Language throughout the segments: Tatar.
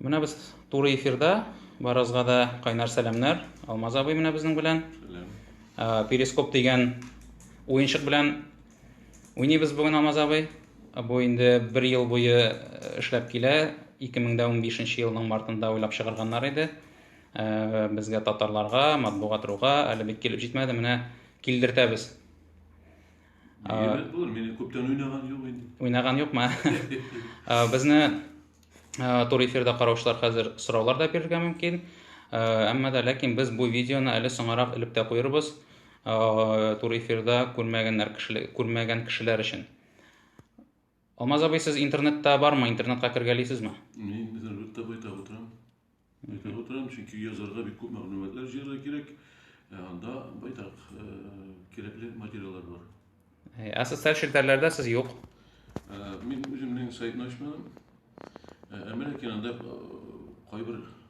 Менә без туры эфирда, барызга да кайнар сәламнәр. Алмаз абый менә безнең белән. Перископ дигән уенчык белән уйныбыз бүген Алмаз абый. Бу инде бер ел буе эшләп килә. 2015 елның мартында уйлап чыгарганнар иде. Безгә татарларга, матбугат руга әле бик килеп җитмәде. Менә килдертәбез. Әйбәт булыр, мин күптән уйнаган юк инде. Уйнаган юкмы? Безне тур эфирда караучылар хәзер сораулар да бирергә мөмкин. Әмма да ләкин без бу видеоны әле соңарак элеп тә куербыз. Тур эфирда күрмәгәннәр кешеләр, күрмәгән кешеләр өчен. Алмаз абый, сез интернетта бармы? Интернетка кергәлисезме? Мин интернетта байтак утырам. Байтак утырам, чөнки язарга бик күп мәгълүматлар җыярга кирәк. Ә анда байтак э, кирәкле материаллар бар. Э, ә социаль челтәрләрдә сез юк. Э, мин үземнең сайтны ачмадым. Әмма ләкин анда кайбер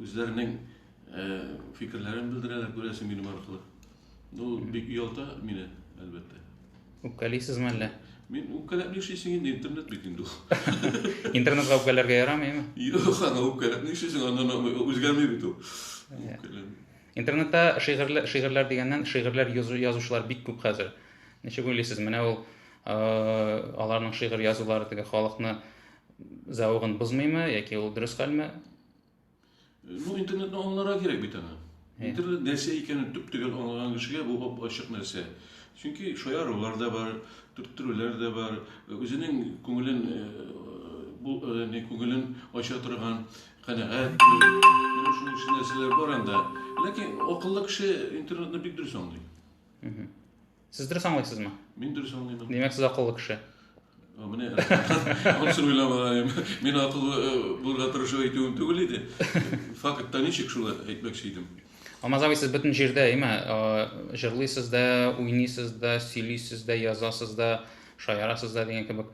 Үзләренең фикерләрен белдерәләр, күрәсең, минем аркылы. Ну, бик ялта мине, әлбәттә. Үпкәлисезме әллә? Мин үпкәләп нишлисең инде, интернет бит инде ул. Интернетка үпкәләргә ярамыймы? Юк, аны үпкәләп нишлисең, аннан үзгәрми бит ул. Интернетта шигырьләр, шигырьләр дигәннән, шигырьләр язучылар бик күп хәзер. Ничек уйлыйсыз, менә ул аларның шигырь язулары теге халыкны Зәвыгын бозмыймы, яки ул дөрес хәлме? Ну, интернетны аңларга кирәк бит аны. Интернет нәрсә икәнен төп төгәл аңлаган кешегә бу бап ачык нәрсә. Чөнки шаярулар да бар, төрттерүләр дә бар, үзенең күңелен бу не күңелен ача торган, канәгать, менә шуның өчен нәрсәләр бар анда. Ләкин акыллы кеше интернетны бик дөрес аңлый. Сез дөрес аңлыйсызмы? Мин дөрес аңлыймын. Димәк, сез акыллы кеше. Ә, менә аның өчен уйламаган. Мин акыллы э, булырга тырышу әйтүем түгел иде. Фактта ничек шуны әйтмәкче идем. Алмаз абый, сез бөтен җирдә, әйме, э, җырлыйсыз да, уйныйсыз да, сөйлисез дә, язасыз да, шаярасыз да дигән кебек.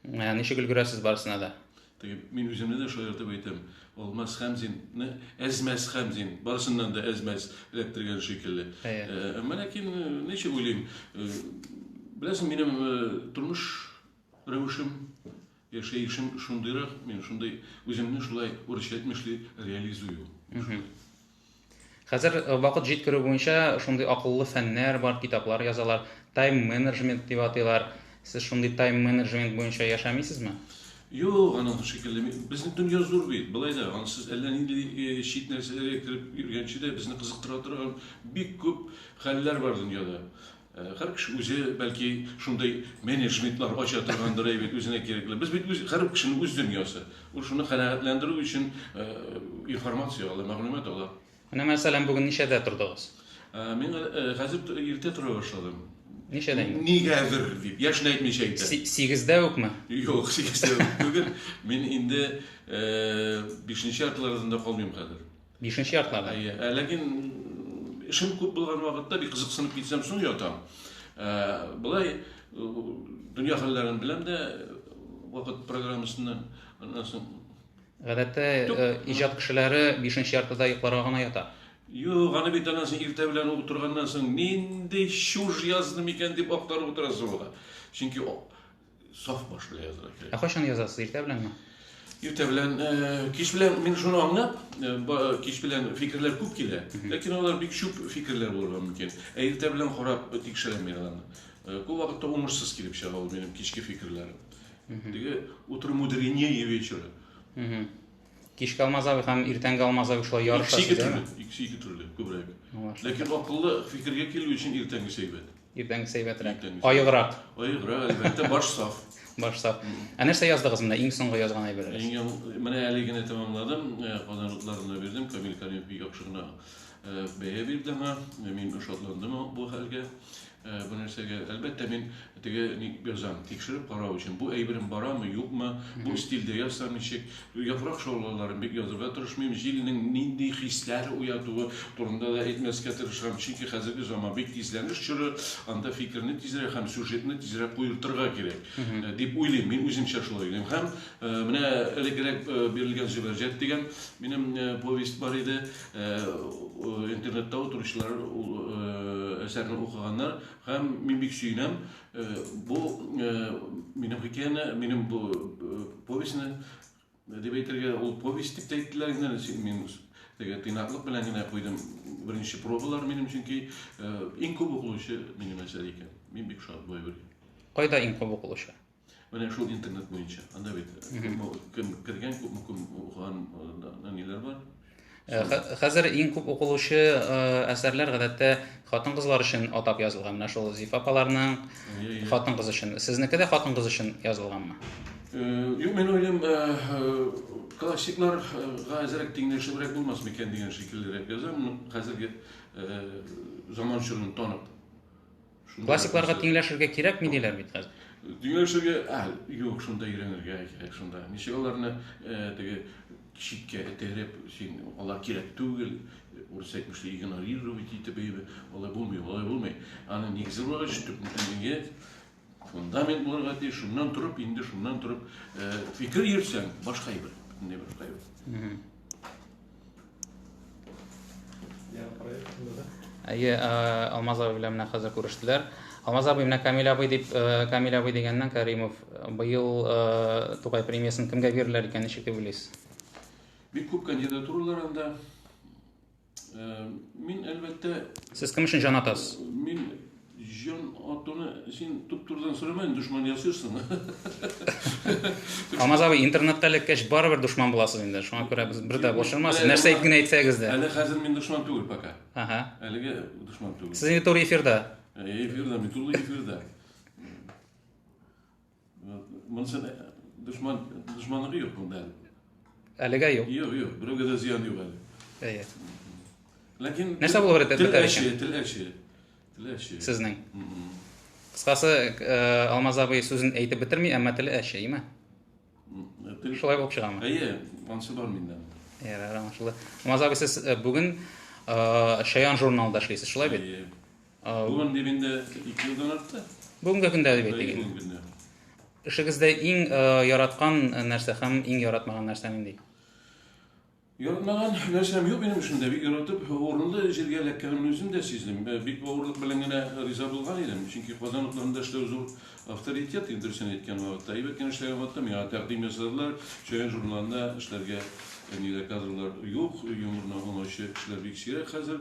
Ә, Ничек өлгерәсез барысына да? Теге, мин үземне дә шаяртып әйтәм, Алмаз Хәмзин, Әзмәс Хәмзин, барысыннан да Әзмәс эләктергән шикелле. Әмма ләкин ничек уйлыйм, беләсең, минем тормыш рәвешем, яшәешем шундыйрак, мин шундый үземне шулай урысча әйтмешли реализую. Хәзер вакыт җиткерү буенча шундый акыллы фәннәр бар, китаплар язалар, тайм-менеджмент дип атыйлар. Сез шундый тайм-менеджмент буенча яшәмисезме? Юк, аның шикелле. Безнең дөнья зур бит. Болай да, аны сез әллә нинди чит нәрсәләргә кереп йөргәнче дә, безне кызыктыра торган бик күп хәлләр бар дөньяда. Һәр кеше үзе, бәлки, шундый менеджментлар ача торгандыр, әй бит, үзенә кирәкле. Без бит үз, һәр кешенең үз дөньясы. Ул шуны канәгатьләндерү өчен э, информация ала, мәгълүмат ала. Менә мәсәлән, бүген ничәдә тордыгыз? Э, Мин э, хәзер т- иртә тора башладым. Ничәдә инде? Нигәдер дип, яшен әйтмичә әйтә. Си- Сигездә үкме? Юк, сигездә түгел. Мин инде э, бишенче яртылардан да калмыйм хәзер. Бишенче яртыларда. Әйе. Ә, ләкин эшем күп булган вакытта бик кызыксынып китсәм, соң ятам. Ә, Былай дөнья хәлләрен беләм дә вакыт программасыннан аннан соң Гадәттә э, иҗат кешеләре бишенче яртыда йокларга гына ята. Юк, аны бит аннан соң иртә белән утырганнан соң нинди чуж язды микән дип актарып утырасың ул. Чөнки о- саф баш белән язырга кирәк. Ә кайчан язасыз, иртә беләнме? Иртә белән, э, кич белән мин шуны аңлап, э, кич белән фикерләр күп килә, ләкин алар бик чүп фикерләр булырга мөмкин. Ә иртә белән карап тикшерәм мин аны. Э, күп вакытта уңышсыз килеп чыга ул минем кичке фикерләрем. Теге утро мудренее вечера. Кичке алмазавы һәм иртәнге алмазавы шулай ярышасы Икесе ике төрле, дәме? икесе ике төрле, күбрәк. Ләкин акыллы фикергә килү өчен иртәнге сәйбәт. Иртәнге сәйбәтрәк. Аеграк. Аеграк, әлбәттә, баш саф. Баш саф. Ә нәрсә яздыгыз менә иң соңгы язган әйберегез? Иң яң... Менә әле генә тәмамладым, э, Казан утларына бирдем, Камил Каримов бик яхшы гына э, бәя бирде аңа, мин шатландым бу хәлгә. Бу нәрсәгә, әлбәттә, мин теге ник язам, тикшереп карау өчен. Бу әйберем барамы, юкмы, бу стильдә язсам ничек? Яфрак шаулаларын бик язырга тырышмыйм, җилнең нинди хисләр уятуы турында да әйтмәскә тырышам, чөнки хәзерге заман бик тизләнеш чоры, анда фикерне тизрәк һәм сюжетны тизрәк куертырга кирәк, дип уйлыйм, мин үземчә шулай уйлыйм. Һәм менә элеккерәк бирелгән Зөбәрҗәт дигән минем повесть бар иде. интернетта утыручылар әсәрне укыганнар һәм мин бик сөенәм бу минем хикәяне минем бу повестьны дип әйтергә ул повесть дип әйттеләр генә мин теге тыйнаклык белән генә куйдым беренче пробалар минем чөнки иң күп укылучы минем әсәр икән мин бик шат бу әйбергә кайда иң күп укылучы Менә шул интернет буенча. Анда бит күпме кем кергән, күпме кем укыган э, ниләр бар. Э, хәзер иң күп укылучы э, әсәрләр гадәттә хатын-кызлар өчен атап язылган. Менә шул Зиф апаларның хатын-кыз өчен. Сезнеке дә хатын-кыз өчен язылганмы? Юк, мин уйлыйм, классикларга әзрәк тиңләшебрәк булмас микән дигән шикеллерәк язам. Хәзерге заман чорын танып Шунда Классикларга нәрсә- тиңләшергә кирәкми диләр бит хәзер. Тиңләшергә, а, юк, шунда өйрәнергә кирәк, шунда. Ничек аларны э, теге читкә этәреп, син, алар кирәк түгел, урыс әйтмешли, игнорировать итеп, әйбе, алай булмый, алай булмый. Аны нигезе буларак төп нигезе, фундамент булырга тиеш, шуннан торып, инде шуннан торып, э, фикер йөрсәң, башка әйбер, бөтенләй башка әйбер. Әйе, э, Алмаз абый белән менә хәзер күрештеләр. Алмаз абый менә Камил абый дип, э, Камил абый дигәннән Каримов э, быел э, Тукай премиясын кемгә бирерләр икән, ничек дип уйлыйсыз? Бик күп кандидатуралар анда. Э, мин әлбәттә Сез кем өчен җан атасыз? мин Җан атуны син туп-турыдан сорама, дошман ясыйсың. Алмаз абый, интернетта эләккәч барыбер дошман буласыз инде. Шуңа күрә без бер дә борчылмасыз. Нәрсә әйтеп генә әйтсәгез дә. Әле хәзер мин дошман түгел пока. Ага. Әлеге дошман түгел. Сез инде туры эфирда. Э, эфирда, мин туры эфирда. Монсын дошман, дошманлыгы юк монда әле. Әлегә юк. Юк, юк, берәүгә дә зыян юк әле. Әйе. Ләкин нәрсә булып бетә бетә икән? Тел әче. Тел әче. Сезнең. Кыскасы, э, Алмаз абый сүзен әйтеп бетерми, әмма теле әче, әйме? Тел шулай булып чыгамы? Әйе, ансы бар миндә. Әйе, аңлашылды. Алмаз абый, сез э, бүген э, Шаян журналында эшлисез, шулай бит? Әйе. Бүген дип инде ике елдан артты. Бүгенге көндә дип әйтик. Бүгенге көндә. Эшегездә иң э, яраткан э, нәрсә һәм иң яратмаган нәрсә нинди? Яратмаган нәрсәм юк минем эшемдә. Бик яратып, урынлы җиргә эләккәнемне үзем дә сиздем. Э, бик авырлык белән генә риза булган идем, чөнки Казан утларында эшләү зур авторитет, инде дөресен әйткән вакытта. Әйбәт кенә эшләгән вакытта миңа тәкъдим ясадылар, Чаян журналында эшләргә нидә кадрлар юк, юморны аңлаучы кешеләр бик сирәк хәзер.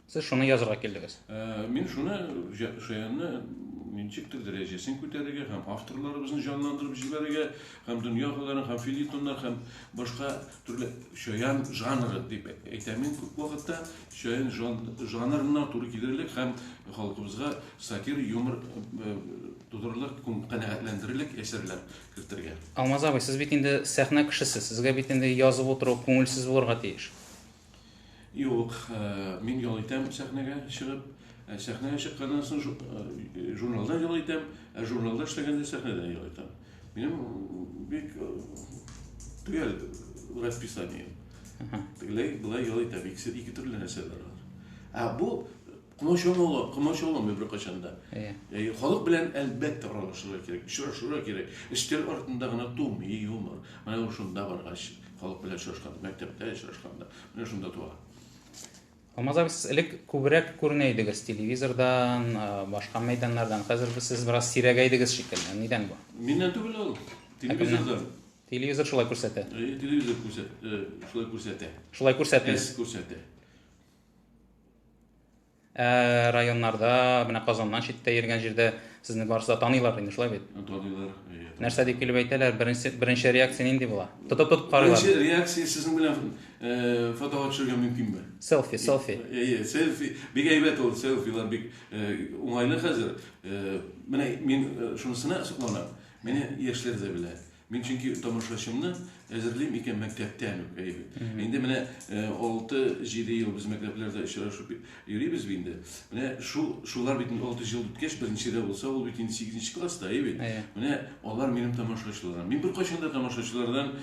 Сез шуны язырга килдегез. Ә, мин шуны Шаянны ничектер дәрәҗәсен күтәрергә һәм авторларыбызны җанландырып җибәрергә һәм дөньяларын һәм филитоннар һәм башка төрле шаян жанры дип әйтәм мин күп вакытта шаян жан, жанрына туры килерлек һәм халкыбызга сатир юмор э, тудырырлык канәгатьләндерерлек әсәрләр кертергә. Алмаз абый, сез бит инде сәхнә кешесе, сезгә бит инде язып утыру күңелсез булырга тиеш. Юк, мин ял итәм сәхнәгә чыгып. Сәхнәгә чыкканнан соң журналда ял итәм, ә журналда эшләгәндә сәхнәдә ял итәм. Минем бик төгәл расписание. Тегеләй, болай ял итәм. Икесе ике төрле нәрсәләр. Ә бу Комачаулы ала, комачаулы мы беркайчан да. Әйе. Халык белән әлбәттә аралашырга кирәк, очрашырга кирәк. Өстәл артында гына тумый юмор. Менә ул шунда баргач, халык белән очрашканда, мәктәптә очрашканда, менә шунда туа. Алмазар, сез элек күбрәк күренә идегез телевизордан, башка мәйданнардан. Хәзер сез бераз сирәгәйдегез шикелле. Нидән бу? Миннән түгел ул. Телевизордан. Телевизор шулай күрсәтә. Телевизор күрсәтә. Шулай күрсәтә. Шулай күрсәтә. Күрсәтә. Ә районнарда, менә Казаннан читтә йөргән җирдә сезне барысы да таныйлар инде, шулай бит? Таныйлар. Нәрсә дип килеп әйтәләр? Беренче беренче реакция нинди була? Тотып тотып карыйлар. Беренче реакция сезнең белән фотога төшергә мөмкинме? Селфи, селфи. Әйе, селфи. Бик әйбәт ул селфилар бик уңайлы хәзер. Менә мин шунысына сокланам. Менә яшьләр дә белә. Мин чөнки тамашачымны әзерлим икән мәктәптән үк, әйе. Инде менә 6-7 ел без мәктәпләрдә очрашып йөрибез бит инде. Менә шул шулар бит 6 ел үткәч беренче дә булса, ул бит инде 8 класста, әйе бит. Менә алар минем тамашачыларым. Мин бер кайчан да тамашачылардан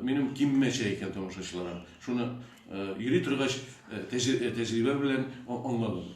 минем киммәчә икән тамашачыларым. Шуны йөри торгач тәҗрибә белән аңладым.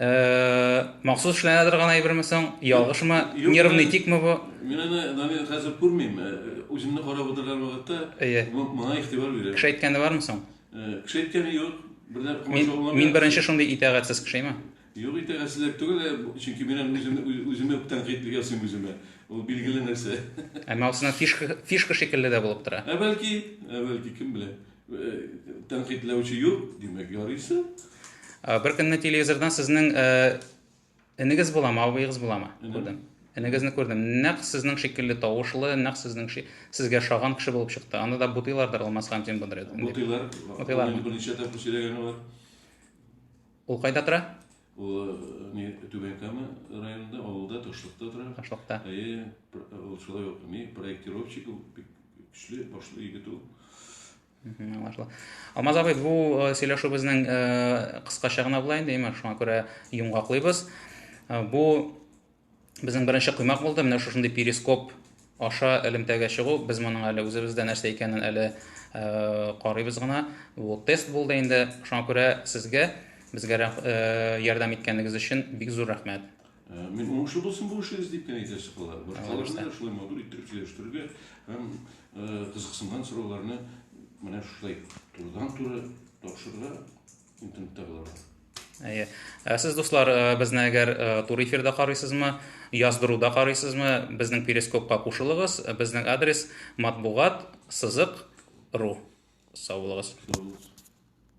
Э, махсус эшләнә торган әйберме соң? Ялгышмы? Нервный тикме бу? Мин аны Данил хәзер күрмим. Э, үземне карап утырган вакытта әйе. моңа игътибар бирә. Кеше әйткәне бармы соң? Э, кеше әйткәне юк. Бердә комачауламый. Мин беренче шундый итәгатьсез кешеме? Юк итәгатьсезлек түгел, э, чөнки мин аны үземне үземә тәнкыйть ясыйм үземә. Ул билгеле нәрсә. Әмма усына фишка фишка шикелле дә булып тора. Ә бәлки, ә бәлки кем белә? Тәнкыйтьләүче юк, димәк, ярыйсы. Бер көнне телевизордан сезнең энегез буламы, абыегыз буламы? Күрдем. Энегезне күрдем. Нәкъ сезнең шикелле тавышлы, нәкъ сезнең сезгә шаган кеше булып чыкты. Анда да бутыйлардыр Алмаз хан Тимбудыр. Бутыйлар. Бутыйлар. Берничә тапкыр сөйләгәне бар. Ул кайда тора? Ул не Түбән Кама районында, авылда, Ташлыкта тора. Ташлыкта. Әйе, ул шулай ук не проектировщик, көчле, башлы егет ул. Аңлашыла. Алмаз абый, бу сөйләшүебезнең кыскача гына була инде, имеш, шуңа күрә йомгаклыйбыз. Бу Безнең беренче коймак булды, менә шушындый перископ аша элемтәгә чыгу. Без моның әле үзебездә нәрсә икәнен әле э, карыйбыз гына. Бу тест булды инде. Шуңа күрә сезгә безгә э, ярдәм иткәнегез өчен бик зур рәхмәт. Э, мин уңышлы булсын бу эшегез дип кенә әйтә чыгалар. Башкаларны да шулай матур иттереп сөйләштерергә һәм э, кызыксынган сорауларны менә шулай турыдан-туры тапшырырга интернетта булыр әйе ә сез дуслар э, безне әгәр э, тур эфирда карыйсызмы яздыруда карыйсызмы безнең перископка кушылыгыз безнең адрес матбугат сызык ру сау булыгыз